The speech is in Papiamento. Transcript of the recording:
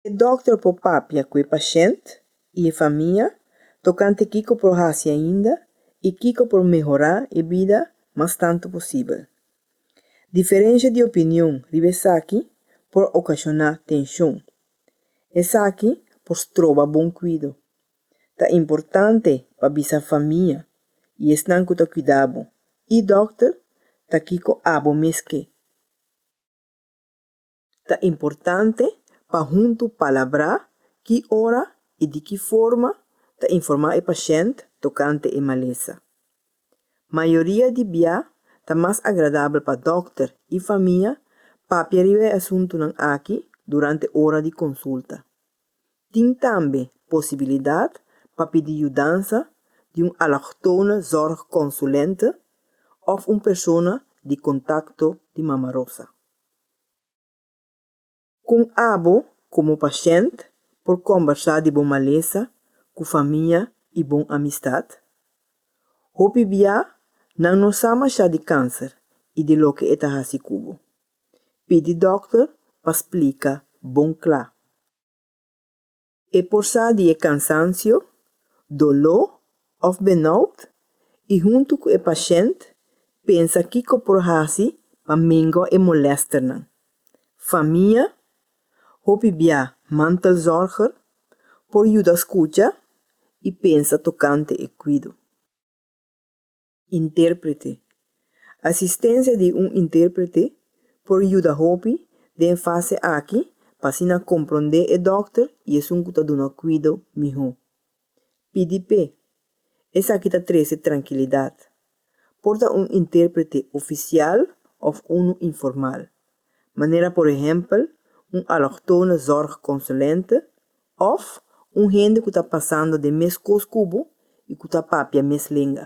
E dòkter por papia ku e pashènt i e famia tokante kiko por hasi ainda i kiko por mehorá e bida mas tantu posibel. Diferensha di opinion riba esaki por okashoná tenshon. Esaki por stroba bon kuido Ta importante pa bisa famia i esnan ku ta kuidá bo i dòkter ta kiko abo mes ke. Ta importante pa huntu palabrá ki ora i di ki forma ta informá e pashènt tokante e malesa. Mayoria di bia ta mas agradabel pa dòkter i famia papia riba e asuntunan aki durante ora di konsulta. Tin tambe posibilidat pa pidi yudansa di un allochtone zorgconsulente òf un persona di kontakto di Mama Rosa. Kon abo komo pashènt por kòmbersá di bo malesa ku famia i bon amistat? Hopi bia nan no sa mashá di kanser i di loke e ta hasi ku bo. Pidi dòkter pa splika bon kla. E por sa di e kansansio, doló òf benòut i huntu ku e pashènt pensa kiko por hasi pa mingua e molèsternan. Famia, hopi bia mantelzòrger, por yuda skucha i pensa tokante e kuido. Intérprete. Asistensia di un intérprete por yuda hopi den fase aki pa asina komprondé e dòkter i esun ku ta duna kuido mihó. Pidi p'e. Esaki ta trese trankilidat. Por ta un intérprete ofisial òf unu informal, manera por ehèmpel un alòktono zòrgkonsulente Òf un hende ku ta pasando den meskos ku bo i ku ta papia mes lenga.